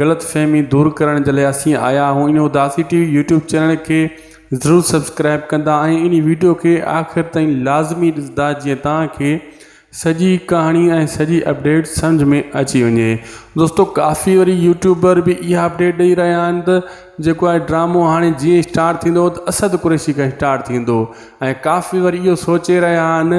غلط فهمي دور ڪرڻ جي لاء اسين آيا آهيون ان Udasi T V YouTube channel کي ضرور سبسڪرائب ڪندا ۽ ان ويڊيو کي آخر تائين لازمي ڏسندا جيئن توهان کي سڄي ڪهاڻي ۽ سڄي اپڊيٽ سمجھ ۾ اچي وڃي دوستو ڪافي وري يوٽيوبر به اها اپڊيٽ ڏئي رهيا آهن ته جيڪو آهي ڊرامو هاڻي جيئن اسٽارٽ ٿيندو ته اسد قريشي کان اسٽارٽ ٿيندو ۽ ڪافي وري اهو سوچي رهيا آهن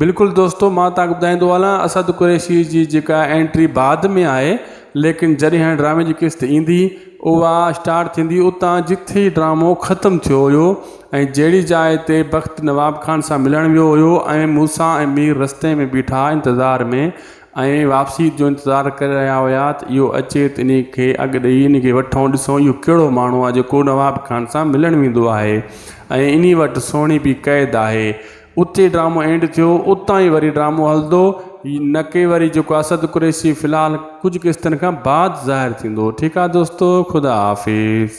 بلڪل دوستو مان توهان کي ٻڌائيندو هلان اسد قريشي جي جيڪا انٽري بعد ۾ آهي ليڪن جڏهن هن ڊرامي جي قسط ايندي اها اسٽارٽ ٿيندي اتان جتي ڊرامو ختم ٿيو هيو ۽ جهڙي جاء تي بخت نواب خان سان ملڻ ويو هيو ۽ موسيٰ ۽ مير رستي ۾ بيٺا انتظار ۾ ۽ واپسي جو انتظار ڪري رهيا هيا ته اهو اچي ته انهي کي اڳ ڏئي انهي کي وٺون ڏسون اهو ڪهڙو ماڻهو آهي جيڪو نواب خان سان ملڻ ويندو آهي ۽ انهي وٽ سهڻي به قيد آهي اتي ڊرامو اينڊ ٿيو اتان ئي وري ڊرامو هلندو نڪي وري جيڪو اسد قريشي في الحال ڪجهه قسطن کان بعد ظاهر ٿيندو ٺيڪ آ دوستو خدا حافظ